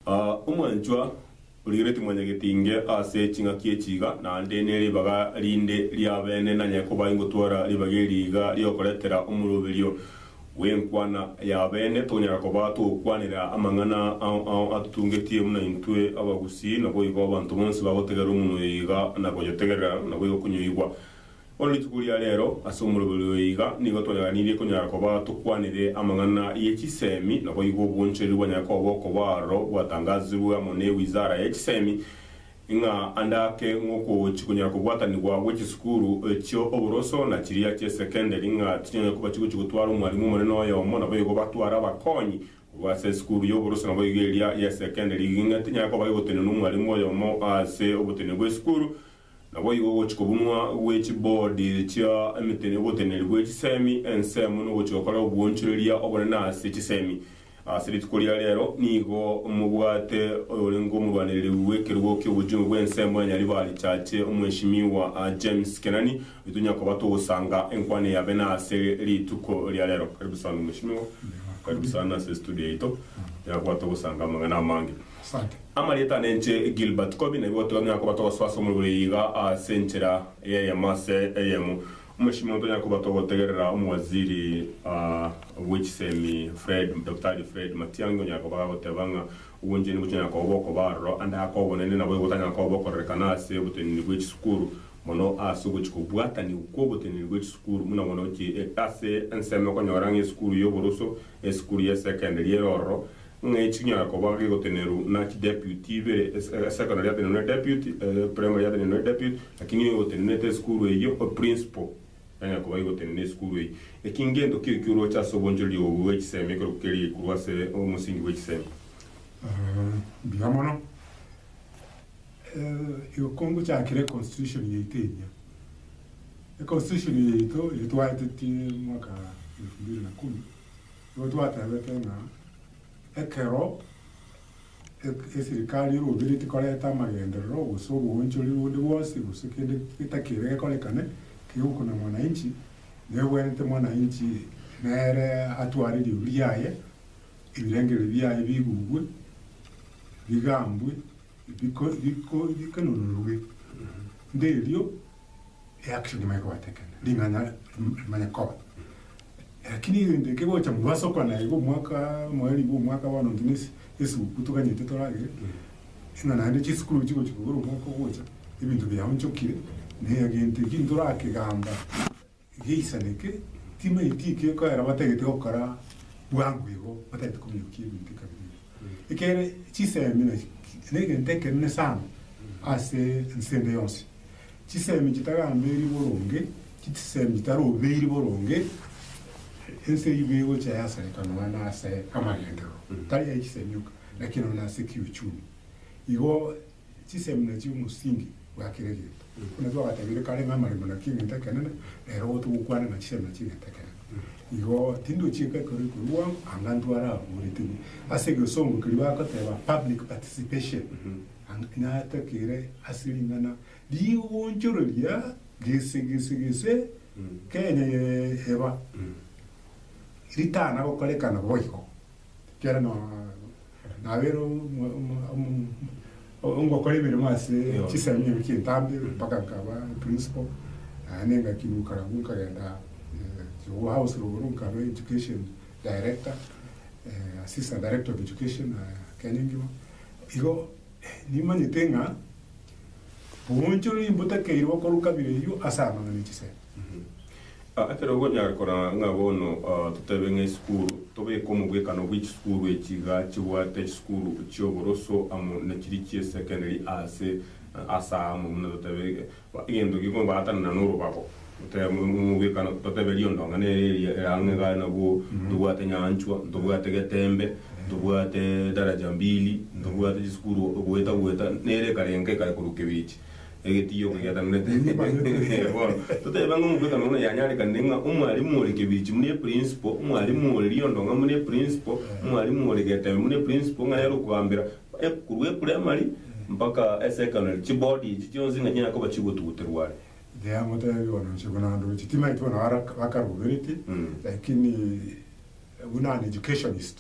Aa, omwanchwa origeretie mwanyagete inge ase ching'aki echi iga, naende ne ribaga rinde ri'abene nanye koba ingotwara ribaga eri iga ri'okoretera omoroberio bw'enkwana y'abene, tokonyara koba togokwanera amang'ana ao ao atotungetie buna intwe abagusii, naboigo abanto bonsi bagotegerera omonwa oyo iga, na goyotegerera, naboigo konyoigwa. Bono rituko ria reero, ase omoroberi oyo iga nigo twanyaganirie konyara koba tokwanire amang'ana ye chisemi, naboigo obwonchoreria bwanyare koba okoba aroro bwatangazirwe amo ne Wizara ye Chisemi, ng'a ande ake ng'oko chikonyara kobwatanigwa gwe chisukuru chio oboroso na chiria chie secondary ng'a tichinyanya koba chigochi gotwara omwalimu omonene oyomo naboigo batware abakonyi korwa ase esukuru y'oboroso naboigo eria ya secondary ng'a tinyara koba egotenenwa omwalimu oyomo ase oboteneneri bw'esukuru Naboigo ogochia kobunwa gwe chiboard chia ogoteneri gwe chisemi ensemo nogochia gokora obwoonchoreria obonene ase chisemi. Ase rituko ria rero nigo mobwate oyorenge omorwanereria bw'ekerogo ki'obojong'u bw'ensemo ya Nyaribari Chache Omweshimiwa James Kenani oyo tonya koba togosanga enkwana eye abene ase rituko ria rero. Karibu sana Omweshimiwa. Karibu sana ase estudio yaito. Tonya koba togosanga amang'ana amange. Asante. Amarieta ane inche Gilbert Kobi, naibwo gotogania koba togosoa ase omobere oye iga ase enchera eyemo ase eyemo. Omosimi omonto onyare koba togotegerera omowaziri bw'echisemi Fred, Daktari Fred Matiang'i onyare koba agagoteba ng'a obonchani bochonyare koba bokoba aroro ande ake obonene nabo egotanyara koba bokorerekana ase oboteneneri bw'echisukuru mono ase ogochi kobwatanigwa kw'oboteneneri bw'echisukuru buna bono gochia ase ensemo okonyora ng'a esukuru y'oboroso, esukuru y'esekendari ere ororo ng'a eki chinyara koba gegotenenerwa na chideputy ibere, ase esekondari yatenenerwe ne deputy, ase primary yatenenerwe ne deputy, lakini egotenenete esukuru eyio, principal nanyare koba gegotenena esukuru eyio. Eki ngento kio ekio oroche ase obonchoreri obo bwe chisemi ekerokio keria geikurwa ase omosingi bwe chisemi. Mbuya mono. Igo kongochakera econstitution yaito eria, econstitution yaito eyio twaetetie mwaka elfu mbili na kumi. Nigo twatebete ng'a ekero eserikari y'orobere tikoreta amagenderero gose oboonchoriri bonde bwonsi gose kende getakeire gekorekane kegokuna mwananchi, negwenerete mwananchi nere atware eriogi riaye, ebirengererio biaye bigugwe, bigambwe, biko biko bikanonorwe. Nderio. eaction nimanye kobatekena, ring'ana rimanye koba. Lakini egento eke gocha mwasoka na igo omwaka, mwarigwa omwaka bono nonye ne esiguku toganyete toragere, ng'a naende chisukuru chigochia kobera omwaka ogocha, ebinto biaonchokire, na egento ekio ntorakegamba. Geisaneke, timaeti ekieko ero batagete gokora bwango igo batagete kominyokia ebinto ekabere erio. Ekiagera chisemi na negento ekenene sana ase ense ende yonsi. Chisemi chitagambeiri boronge, chisemi chitarobeiri boronge, ense eyio nigo egocha yasareka nonya na ase amagenderero, tari aye chisemi oka, lakini nonya na ase kiuchumi. Igo. Chisemi na chiomosingi bwa kera egento. Buna twagatebirie kare ng'a amaremo na keng'enta ekenene, rero igo togokwana ng'a chisemi na ching'enta ekenene. Igo tindochiika ekero ekorwa bono anga intwe arabuuretigwe ase egesongo keria bagoteba public participation, anga natakere ase ring'ana rigoonchoreria gese gese gese Kenya eye eba ritana gokorekana boigo. Ekiagera nabeire ongokora emeremo ase chisemi emeremo chia etambe mpaka nkaba principal naende ngakiruka abwo nkagenda Kigogo House Logoro nkaba education director, assistant director of education Kenya engima igo. Nimanyete ng'a boonchoreiri mbotakeire gokorwa kabira eyio ase amang'ana e chisemi. Ekero okonyara koraa ng'a bono totebe ng'a esukuru, tobeke omogwekano bw'echisukuru echi iga chibwate chisukuru chi'oboroso amo nachiri chi'esekendari aase amo buna totebe Egento gikongwatanana n'orobago, totebe, Mogwekana, totebe riondong'ana ere eria ere ang'e iga, nabwo ntobwate nyanchwa, ntobwate getembe, ntobwate daraja mbili, ntobwate chisukuru goeta goeta, nere ekarenga ekaya korwa kebichi, egetiyo kegetananete. Bono, totebe ng'a omogwekano buna yanyarekanire ng'a omwalimu ore kebichi buna eprinciple, omwalimu ore riondong'a buna eprinciple, omwalimu ore getembe buna eprinciple, ng'a nere okogambera. Ekurwa epuraimari mpaka esekondari, chibodi echi chionsi ng'a chinyare koba chigotuguterwa are. Tiamotebia bono inche buna ande gocha, timaeti bono ara akarobereti, lakini buna an educationist,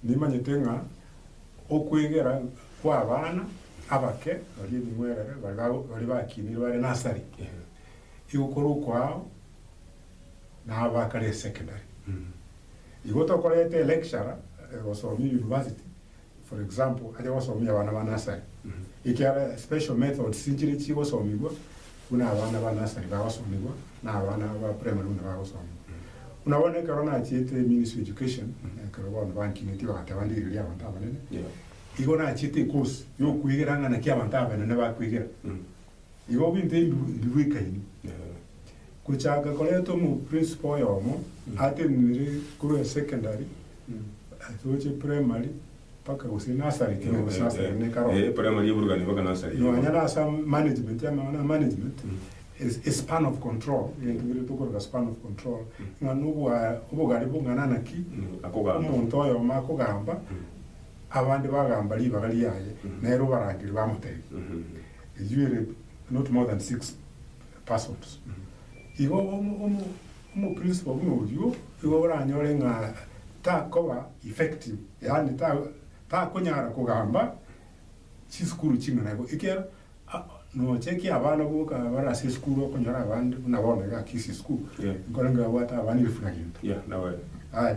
nimanyete ng'a okwegera kwa abana abake baria ebing'werere baria bakinire bare nursery igo kore okoao nabo bakare esekondari. Igo tokoreta electurer gosomia university. for example aria gosomia abana ba nursery, ekiagera special methods nchiria chigosomigwa buna abana ba nursery bagosomigwa na abana ba primary buna bagosomigwa. Buna bono ekero nachiete ministry of education, ekero bono bankineti bagateba nde riroria abanto abanene, igo nachiete ecourse ya okwegera ng'a naki abanto abanene bakwegera. Igo binto ebi mbibuekaini. Gochaka koretwa omoprinsipal oyomo atenenire korwa esecondary ase gochia eprimary mpaka gose nursery ekero Nursery, gosasana eh. ne karo. Eh, primary y'oborogani mpaka nursery, eh. Nonya na asa management amang'ana ya management is- is span of control egento kere tokoroka span of control ng'a nobwa obogare bong'ana naki Mm, akogamba. omonto oyomo akogamba abande bagamba ribaga riaye nere obarangeri bamotebia Mhm. Iywe ere not more than six Passover. Igo omoprinsipal buna oyio nigo oranyore ng'a takoba effective, yaani takonyara kogamba chisukuru ching'ana igo. Ekiagera nocha ekiya abana boka bare ase esukuru okonyora abande buna bono iga akisia esukuru, nkorengeo abwate abana elfu na gento. Aye.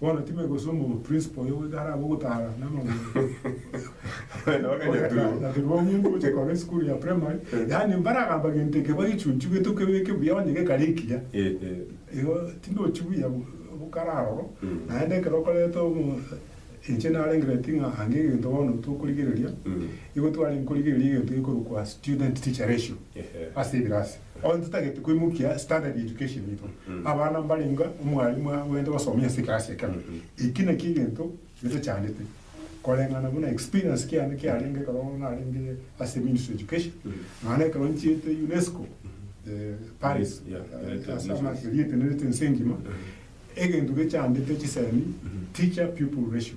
Bono time gose omorwa principal oyo goika arabe ogotara namagoro. Abana bakanyaturwa. Nyaturwa omonto ogochia korora esukuru ya primary, yaani mbaragamba gento eke bagechunchwa gete okebeke buya onye gekare ekiya. Igo tindochi buya bokare aroro, naende ekero okoreta omo inche narengereti ng'a ange egento bono tokorigereria, igo twarenge korigereria egento gekorokwa student teacher ratio ase ebirasi. Bono totagete koimokia standard ya education yaito. Abana mbarengeo omwalimu agwenerete gosomia ase ekerasi ekemo. Eki nakio egento getochandete. Koreng'ana buna experience kiane kiarenge ekero narenge ase ministry of education, nonya na ekero nchiete UNESCO Paris ase amachwere erietenenete ense engima, egento gechandete chisemi teacher pupil ratio.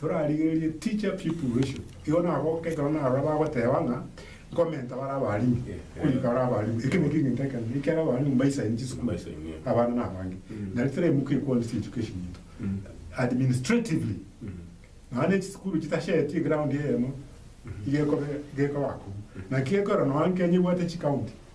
Torarigererie teacher pupil ratio. Igo nagoka ekero narora bagoteba ng'a nkomenta bare abalimu korika bare abalimu. Eke nakio egento ekenene ekiagera abalimu mbaisaini chisukuru abana nabange. Nari toremokia equality education into administratively nonya ne chisukuru chitashetie eground eyemo iga ekobe gekoba kobua. Naki gekorwa nonya Kenya ebwate chicounty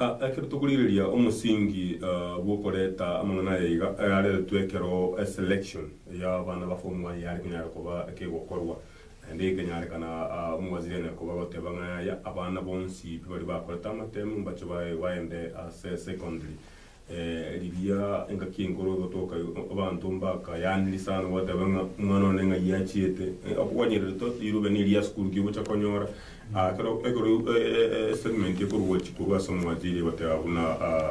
Ekero tokorigereria omosingi bw'okoreta amang'ana aya iga, areretwe ekero eselection y'abana ba form one yare konyara koba ekegokorwa, naende ekenyarekana omowaziri anyare koba agoteba ng'a yaya, abana bonsi baria bakorete amatemu mbache baende ase secondary. Riria engaki enkoro egotoka abanto mbakayaaniri sana goteeba ng'a omwana one ng'ai achiete. Okogwanyereretwe rirobani eria asikurukia ogocha konyora ekero ekero statement ekorwa korwa ase omwachiri egoteeba buna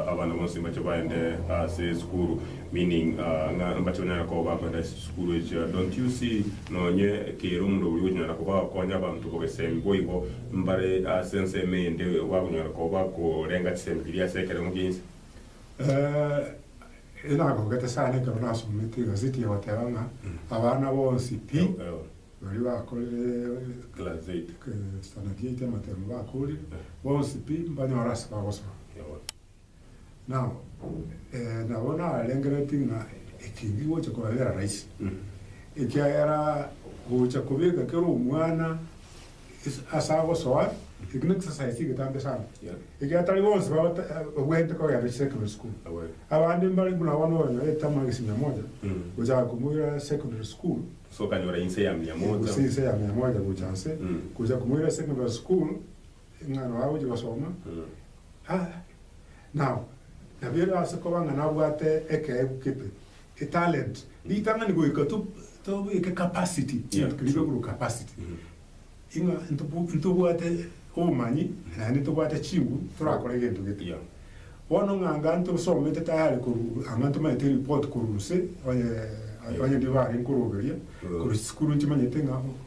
abana bonsi mbache baende ase esukuru meaning ng'a mbache banyare koba bakoenda ase chisukuru echio. Don't you see? Nonye kera omonto oria okonyara koba okonya abanto bogesembi boigo mbare ase ensemo eyende igo akonyara koba okorenga chisembe chiria ase ekeremo kia inse. Ee, nagogete sana ekero nasomete egazeti egoteba ng'a abana bonsi pi baria bakorire Standard Eight amateema bakoorire, bonsi pi mbanyore ase bagosoa. Nao ee, nabo narengeretie ng'a eki nkigocha kobabera raisi, ekiagera gocha kobeka kera omwana ase ase agosoa, eki n'ekisasaisi egetambe sana, ekiagera tari bonsi babata babwenerete kogenda ase secondary school. Abande mbare buna bono okonyora etama egesi mia moja gochaka komoira secondary school, Ase okanyora inse ya mia moja. gose inse ya mia moja gocha nse, gocha komoira secondary school, Ing'ana agochia gosoma, ah, nao nabeire ase koba ng'a nabwate ekeegu kebe, etalent, ritang'ani goika to tobeke capacity, Yeah, egento keria true. begurwa capacity, Mm. ing'a ntobo ntobwate obomanyi naende ntobwate chinguru torakore egento gete. Yeah. Bono ng'a anga ntosomete tayari korwa ang'e ntomanyete eripoti korwa gose, onye onye ndire bare nkoroberia, Mm. korwa chisukuru nchimanyete ng'a.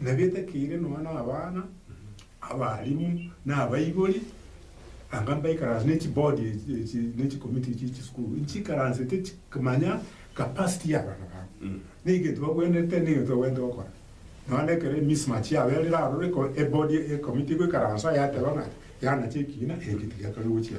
Nabetakeire nonya nabana, abalimu, na abaibori, anga mbaikaranse ne chibodi echi ne chikomiti echi chisukuru, nchikaransete chikimanya capacity ya abana babo, ne egento bagwenerete, ne egento bagwenerete gokora. Nonya na ekero emismatch yabo erire aroro, eko ebodi ekomiti egoikaransa yateba ng'a yanacha ekiina, eke tigeakane gochia.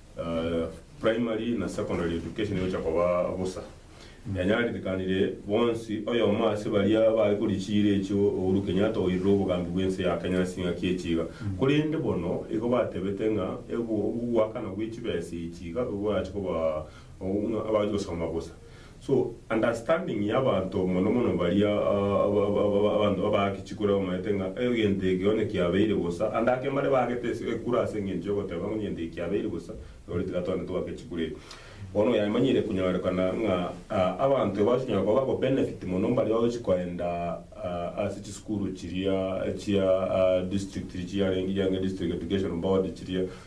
Primary na secondary education egocha koba bosa. Yanyaririkanirie bonsi oyomo ase baria baekori chiira echio Uhuru Kenyatta oirire obogambi bw'ense ya Kenya ase eng'aki echi iga. Korende bono igo batebete ng'a ogoakana gwe chibesa echi iga igo orache koba ng'a abache gosoma bosa. So understanding ya abanto mono mono baria abanto babaake chikura bamaete ng'a egento eke onye kiabeire bosa ande ake mbare baagete ekura ase engencho yogoteba ng'a egento eke kiabeire bosa nori tiga toende togake echikura echi. Bono oyamanyire konyorekana ng'a abanto aba ase onyara koba bago benefit mono mbaria bagochi koenda ase chisukuru chiria chia district chiarenge district education board chiria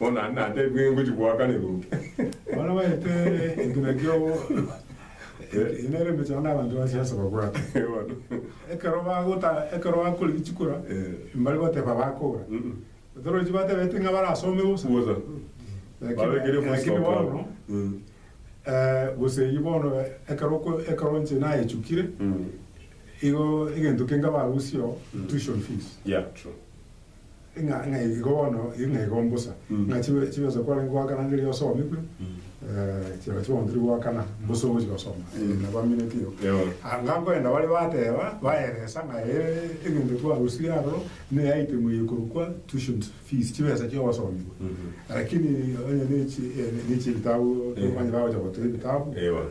Bono aye natebi ng'a ngochia goaka neruki. Bono baete ekina kiobo ekio nere emechando abanto ba siasa babwate. Bono. Ekero bagota ekero bakore bichikora mbare goteba bakora. Torochi batebete ng'a barasome bosa. Bosa. Babekire full stop awo. Gose eyio bono ekero ekero inche nayechukire igo egento kenge barusia oo tuition fees. Yeah true. Ng'a ng'a igo bono, igo ng'a igo mbosa, ng'a chibe chibe nse kwarenge goakana ngerio osomigwe, eh, chiaba chibe onto tiri goakana, mbosa ogochi gosoma, eh, nabo amineti igo. Eeh. Anga nkoenda baria bateba, baeresa ng'a eh, egento twarusirie aroro, ne item eye ekorokwa tuition fees, chibesa chia obosomigwe. Lakini onye ne chi, eh, ne chie ebitabu, tokobanya bagocha goteba ebitabu, Eeh, bono.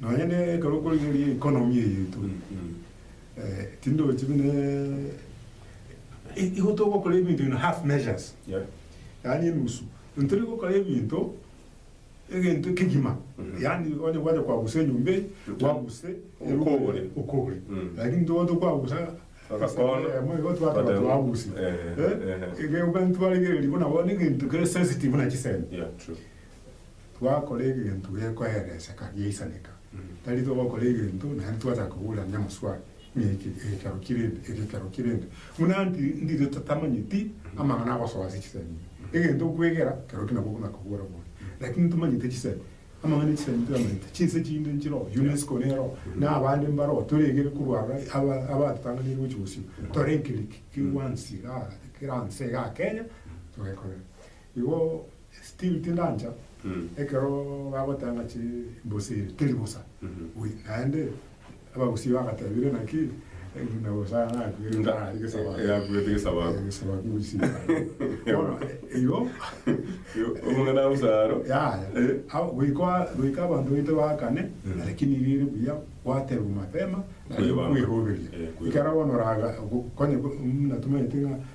Nonya ne ekero okorigereria economy eye eturi tindochi buna igo togokora ebinto in half measures yaani enusu ntori gokora ebinto egento kegima yaani onye gwacha kwagusa enyomba eye gwaguse Okogore. okogore lakini ntogo tokwagusa Agakono. Emo igo twateba Twateba. twaguse Eh, eh, eh. egento twarigereria buna bono egento kere sensitive buna chisemi Twakora egento gekoereseka giaisaneka, tari togokora egento naende twachaka koburania amaswali ng'a eke egekero ki rende, egekero ki rende, buna ndire totamanyeti amang'ana agosoa ase chisemi. Egento okwegera kero ki nabo okona kobora bore, lakini tomanyete chisemi, amang'ana echisemi toyamanyete, chinse chinde nchire oo, UNESCO nere oo, na abande mbare oo, toregere korwa aro aba abatotang'anirie gochia bosio, tore enkereri ki kera nse iga Kenya togekorera. Igo still tindancha ekero bagoteba ng'a chimbosa ere teri bosa we naende abagusii bagatebire naki buna bosa nakwire ntarari gesabato Yakwete gesabato. gesabato gusii bono igo Omong'ina omosaro. Yaya, Eh. au goika goika abanto baito baakane, lakini riire buya gwaterwa mapema, naende Kwebamba. kweroberia. Eh, kwebamba. Ekero bono oraga, go- konye go- muna tomaete ng'a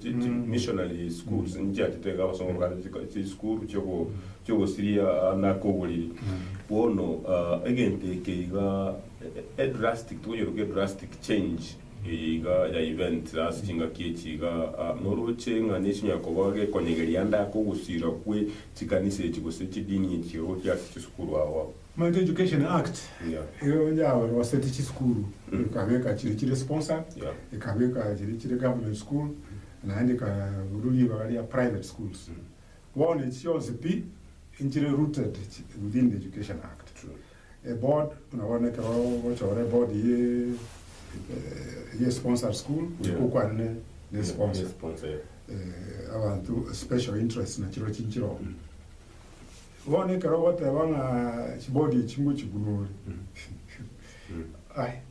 Chi missionary schools nchiachete iga abasongo bakare chiko- chisukuru chiogo- chiogosiria na koboriri. Bono egento eke iga e- e drastic tokonyeroka e drastic change eye iga ya event ase chingaki echi iga noroche ng'a nechi chinyara koba gekonyegeria ande ake ogosira kwe chikanisa echi gose chidini echi iga gochia ase chisukuru agwo. Momenti Education Act nigo yaroseti chisukuru ekabeka chiri chire sponsored, ekabeka chiri chire government school naende ekarusia ribaga ria private schools. Bono echi chionsi pi nchire rooted within the Education Act. Eboard buna bono ekero ogochora eboard ye sponsored school goika okwane ne sponsor. Abanto special interest nachirochio nchire oo. Bono ekero ogoteba ng'a chibodi echi ngochikunore, aye,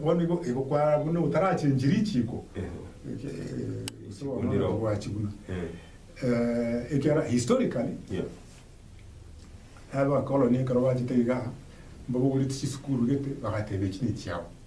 bono igo igo kwara buna otarachenchi richiko, gose bono onye togwachiguna. Ekiagera historically, abakoloni ekero bachete igaa, mbabogoreti chisukuru gete, bagateba echi nechiabo.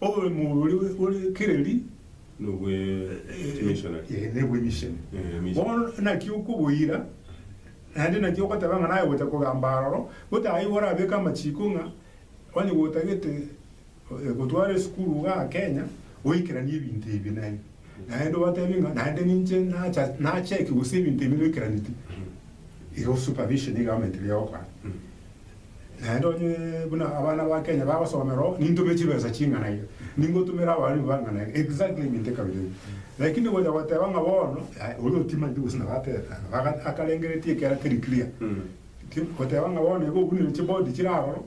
Oboremu oria bore kireri nobwe kimishonari. Ee, nobwe emisheni. Ee, emisheni. Bono naki okoboira, naende naki ogoteba ng'a naye gocha kogamba aroro, gotaha igo orabeke amachiko ng'a onye gotagete eh, gotwara esukuru igaa Kenya, oikeranie ebinto ebi na ebi. Naende obatebie ng'a naende ninche nacha nacheki gose ebinto ebi noikeraneti. Igo supervision iga amaete biagokora. Naende onye buna abana ba Kenya bagosomera oo, nintume chibesa ching'ana iga, ningotumera abarimu bang'ana iga, exactly egento ekabere eke. Lakini gocha goteba ng'a bono, yaya, oria otimanyeti gose nabo ateta, nabo aga- akarengeretie ekero keri clear. Ti- Goteba ng'a bono iga obunire chibodi chire aroro.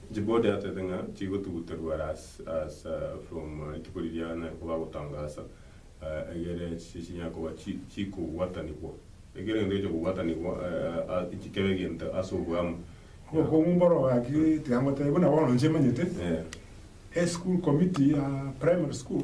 Djibouti atebete ng'a tigotuguterwa ase from rituko riria naye ko bagotangasa egere chinyare koba chikobwatanigwa ekero egento gecha kobwatanigwa kebe egento ase obwamu. Obokong'u mboro gaki tiga ngotebie buna bono inche manyete eschool committee ya primary school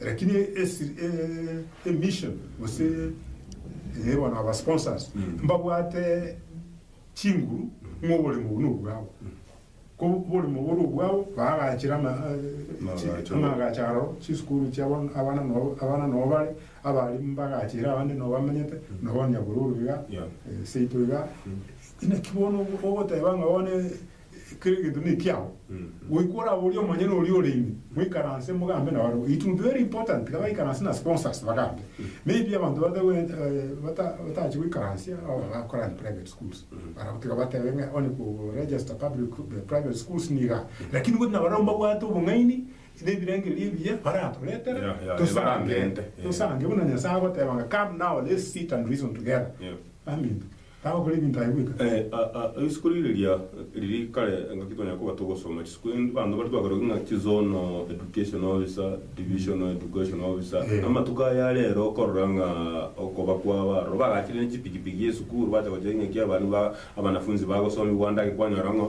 Lakini emission gose bono aba sponsors mbabwate chinguru ng'a oboremo obo nobwabo, ko oboremo obo ore obwabo baagachire amagacho aro chisukuru chia abana nabo bare, abarimu mbagachire abande nabo bamenyete, nabo onye bororo iga, seito iga, inaki bono ogoteba ng'a bono. Kera egento nekiao. Goika oraborie omonyene oria ore ime, moikaranse mogambe nabarabwo. It will be very important tiga baikaranse na sponsors bagambe. Maybe abanto batache goikaransia aba bagakora in private schools, barabwo tiga batebe ng'a onye ko register public private schools niga. Lakini gose nabarabwo mbabwate obong'aini nebirengererio ebiya baratoretere tosange tosange buna Nyasae agoteba ng'a come now let's sit and reason together baminto. Nabakore ebinto aye bweka. Risuko riria riria riria kare ngaki twanyare koba togosoma chisuko endi abanto bare twakeroki ng'a chizonal education officer, divisional education officer. Amatuko aya arero okorora ng'a okoba kwabo aroro bagachire ne chipikipiki esukuru bacha gocha ing'aki abana ba abanafunzi bagosomigwa ande ake kwanyora ng'a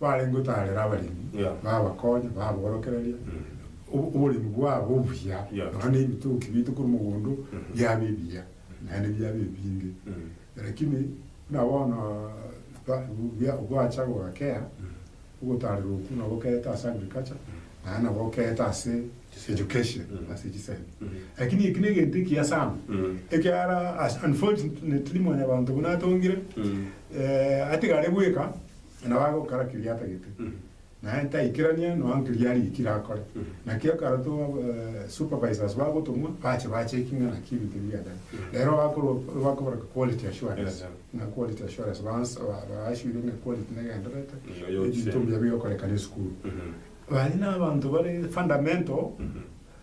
Barenge otaarera abaremi, Yeah. babakonye, baborokereria ob- oboremi bwabo obuya, Yeah. nonya na ebitoki biaito korwa mogondo biaba ebiya, naende biaba ebinge. Lakini buna bono ba- bia- gwacha gogakea, ogotaarerwa okwo nabo okeete ase agriculture, naende nabo okeete ase education, ase chisemi. Lakini eki negento ekiya sana, ekiara as- unfortunately mwanyabanto buna atongire, eh, atigare bweka, Nabo agokora keria atagete, naye taikerania noa nkeria arikire akore. Naki ekero to supervisors bagotong'wa, bache bacheki ng'a naki ebinto ebi biachire. Rero bakorwa bakoborokia quality assurance, ng'a quality assurance baas ba- ba assure ng'a quality negendererete, Nigo yochire. ebinto mbuya bigokorekana esukuru. Baria nabanto bare fundamental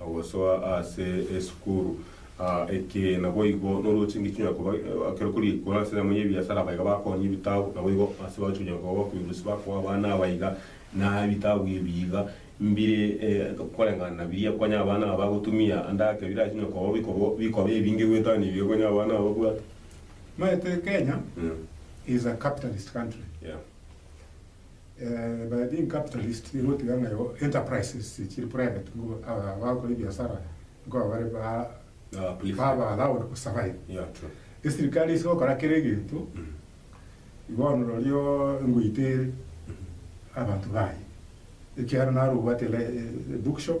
Ogosoa ase esukuru eke naboigo norooche engaki onyare koba ekero kori ekero ase enyemo y'ebiasara abaiga bakonya ebitabu naboigo ase bagochi onyare koba bakoirwa gose bakoa abana aba iga na ebitabu ebi iga mbire koreng'ana na biria konya abana aba bagotumia ande ake birache onyare koba bikoba bikoba ebinge goetania ebibe konya abana aba babwate. Omanyete Kenya is a capitalist country. By being capitalist nigo otiga ng'a igo enterprises chiri private nigo aba bagokora ebiasara nigo aba bare ba baba allowed to survive. Esirikari ase gokora kera egento bono rorio ngoite ere abanto baye ekiagera naro obwate book shop.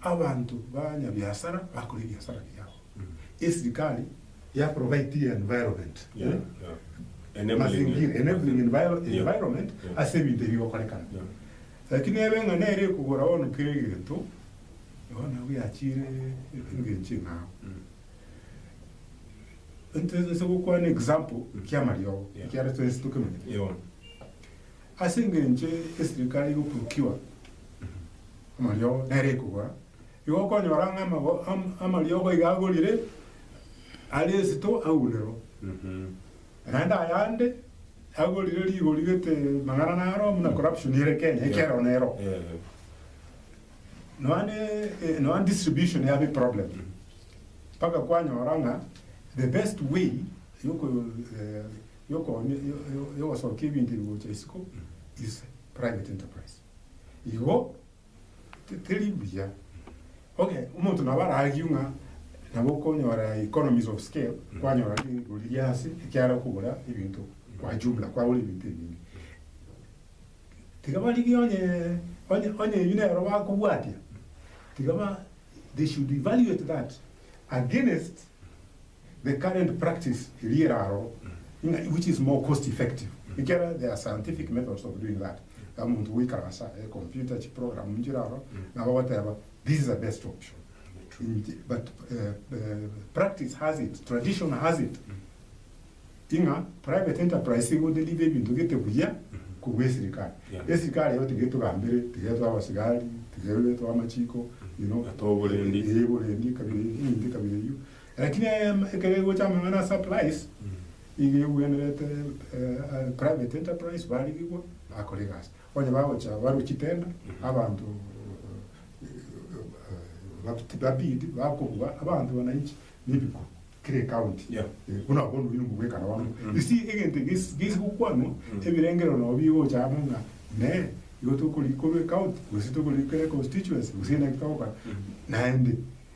abanto banyabiasara bakore ebiasara biabo, esirikari ya provide environment, mazingira, enabling environment ase ebinto ebi bigokorekana. Lakini ebe ng'a nere ekogora bono kera egento, bono abwo yachiire engencho eng'ao. Ntotese gokwana example ki'amariogo, ekiagera twensi tokemanyete. Ase engencho eserikari egokurukiwa amariogo nere ekogora, igo okonyora ng'a amago amariogo iga agorire are esito agunerwa. Naende ayande agorire rigori gete magana naro buna corruption ere Kenya ekero nero. Nonya distribution yabe problem mpaka kwanyora ng'a the best way yokoyoo. yokonya yogosokia ebinto ebi gocha isiko is private enterprise. Igo teri buya oke omonto nabo ara argue ng'a nabo okonyora economies of scale kwanyora rigori ria ase ekiara okogora ebinto kwa jumla kwagora ebinto ebinge. Tiga barigie onye onye onye ebi nero bakobwatia tiga ba they should evaluate that against. The current practice eria ere aroro ng'a which is more cost effective ekiagera there are scientific methods of doing that ng'a omonto goikara ase e computer chi program nchire aroro nabo ogoteba this is a best option inche but practice has it tradition has it ng'a private enterprise nigo edeliver ebinto gete buya korwa esirikari esirikari eye tiga etogambere tiga etoe abasigari tiga etoe amachiko you know oborendi kabira eyio Lakini ekero egocha amang'ana a supplies, iga egwenerete private enterprise barigigwa bakora egasi. Onye bagocha barwe chitenda, abanto ba bid bakobua abanto wananchi nebiko kera ecounty buna abwo bono oino mogwekana bono. You see egento eke gesi gokwanwa ebirengerero nabo bigocha amo ng'a nee igo tokorikorwa ecounty gose tokorikorwa econstituency gose naende togokora naende.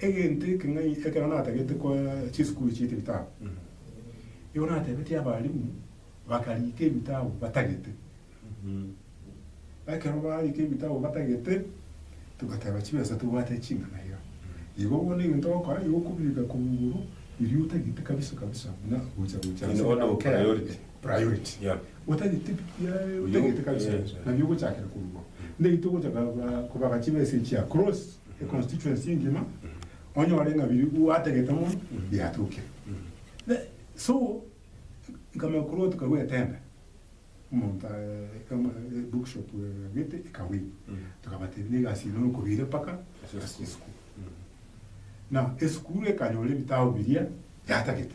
Egento eke ng'ai ekero natagete koa chisukuru chie tebitabu, igo natebetie abalimu bakarika ebitabu batagete. Ekero barika ebitabu batagete, togateba chibesa tobwate ching'ana iga. Igo bono egento ogokora igo okobireka korwa igoro, riria otagete kabisa kabisa buna gocha gocha ase Nigo bono ogo priority. priority. Yeah. Otagete ebitu biaye, otagete kabisa, nabio ogochakera korwa igo. Ndagete ogocha koba gachie ba SHA across e constituency engima, onyore ng'a biria gwatagete mono biatokire. Then, so, nkamanya korwa tukagwa etenda, omonto e bookshop agete ekawin, tokabatebia na egasi eye nokobire mpaka ase esukuru. Now, esukuru ekanyora ebitabu biria yatagete.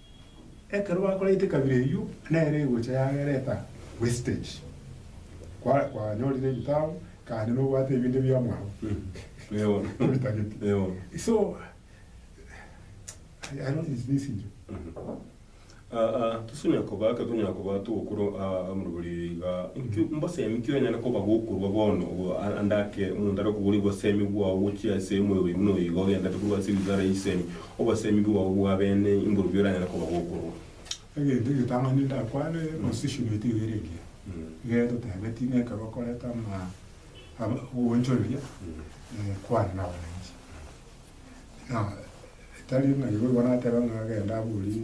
Ekero bakoraite ekabira eyio, nere egocha yagereta wastage. Kwa, kwanyorire ebitabo, kande nobwate ebinde bia mwabo. Ebitageti. So, I, I don't dismiss inche. Ah, ah, tosunya koba, ekero tonyara koba togokura ah, amarobori iga, inki mbosemi ki onyare koba gokorwa bono obo, a- ande ake omonto are koboria obosemi bwao gochia ase omoyo oye buna oyo iga ogenderete korwa ase ebizara eisemi, Obosemi bwao bw'abene imbobi oranyare koba gokorwa? Egento egetang'ani ndakwane, position yaito iga ere engiya. Iga etotebe tine ekero okorete ama ama ogoonchoreria kwane nabaananchi. Nabo etari ng'a igo igo natebe ng'a genda aborie.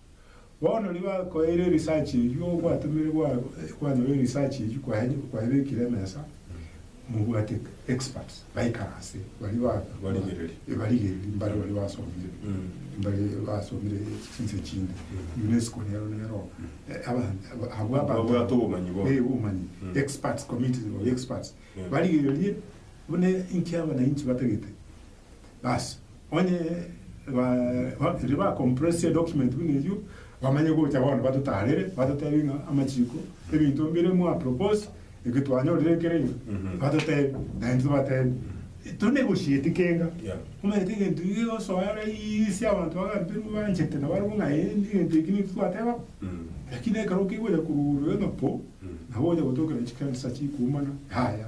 Bono nigo akoeire erisachi eyio ogwatomire gwa gwanyorire erisachi eyio kwaye kwayebekire emesa mobwate experts baikara ase baria ba Barigereria. ebarigereria mbare baria basomire mbare basomire chinse chinde UNESCO nero nero eh, aba aba abwo aba Babwate obomanyi bono. eh obomanyi experts committees of experts barigererie buna inki abananchi batagete Bas, onye ba ba riria ba compress edocument buna eyio, bamanye gocha bono batotarere, batotebie ng'a amachiko, ebinto mbire mwa propose, eke twanyorire ekere iga, batotebie, naende tobatebie, eto negosieti kenga, Yeah. omanyete egento iga egosoa raisi abanto bagampe mbanchete na barabwo ng'a eh egento eke nintwe twateba bo, lakini ekero kegocha korwa igoro ime po, nabo ogocha gotokera chikanisa chikuumana, yaya.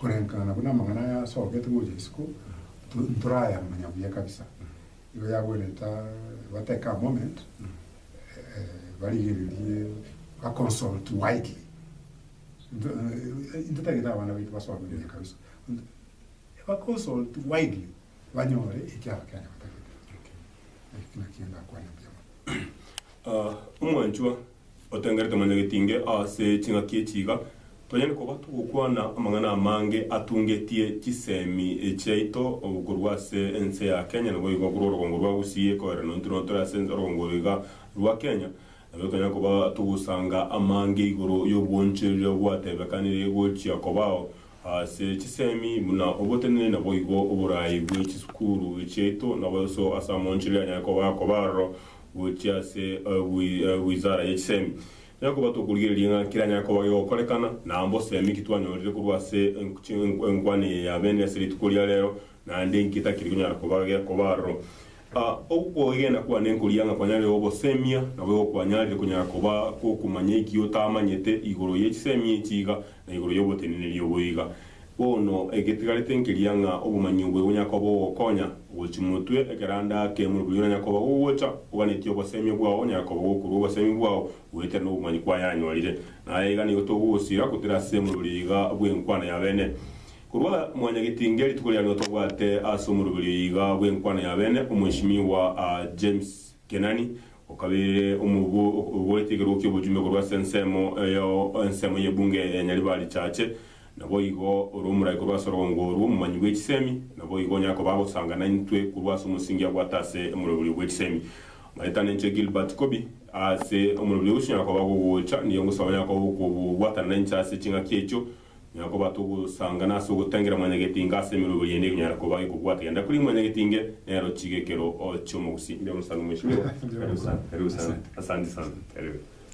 Koreng'ana buna amang'ana aya asogete gocha isiko, ntorayamanya buya kabisa. Igo yagwenerete ba take a moment barigererie ba consult widely. Intwe tagete abana baito basome buya kabisa, ba consult widely banyore eki Abakenya batagete. Ekio nakio ndakwane mbuya mono. Omwanchwa. Otengerete mwanyagetinge ase ching'aki echi iga, tonyare koba togokwana amang'ana amange atungetie chisemi chiaito korwa ase ense ya Kenya, naboigo korwa orogongo rwa Gusii, ekeoerano intwe nonya tore ase orogongo oro iga rwa Kenya, nabo tonyare koba togosanga amange igoro y'obwoonchoreria bwatebekanire gochia kobao Ase chisemi buna obotenene naboigo oboraai bwe chisukuru chiaito naboiso ase amoonchero ya Nyayekoba akoba aroro gochia ase Wizara ye Chisemi. Naki koba tokorigereria ng'a kera Nyayekoba gegokorekana, na mbosemi ki twanyorire korwa ase enkwane eye ya beene ase rituko ria reero, naende nki etakiri konyara koba gekoba aroro? A Okwegena kwane nkoria ng'a kwanyarire ogosemia, nabo igo kwanyarire konyara koba gokumanya eki otamanyete igoro ye chisemi echi iga, na igoro y'oboteneneri obo iga. Bono, egetigarete nkeria ng'a obomanyi obo egonyara koba bogokonya, ogochimotwe ekero ande ake morobio oranyare koba gogocha, oganetie obosemia bwao onyare koba gokorwa obosemi bwao goetera nobomanyi kwayanyorire. Na aya iga nigo togosiira, gotera ase morobio iga bw'enkwana ya bene. Korwa mwanyagetinge rituko ria rioka bwate ase omoroberio iga bw'enkwano y'abene, Omweshimiwa James Kenani, okabeire omorwbo oborete ekerogo ki'obojumbe korwa ase ensemo ya ensemo y'ebunge ya Nyaribari Chache. Naboigo ore omorai korwa ase orogongo orwo, omomanyi bw'echisemi, naboigo onyare koba agosanga naintwe korwa ase omosingi abwate ase omoroberio bw'echisemi. Maetano inche Gilbert Kobi, ase omoroberio ogosunyora koba gogocha, nigo ngosaba onyare koba ogokobwatana nainche ase ching'aki echio, Nyara kobata ogosangana ase ogotengera mwanyagetinga ase emeroberio yaino ekonyara koba gekobwata genda kuri mwanyagetinge nero chiga ekero ochia omogusi. Mbe omosaani omweshimiwa. Karibu sana. Karibu sana. Asante sana. Karibu.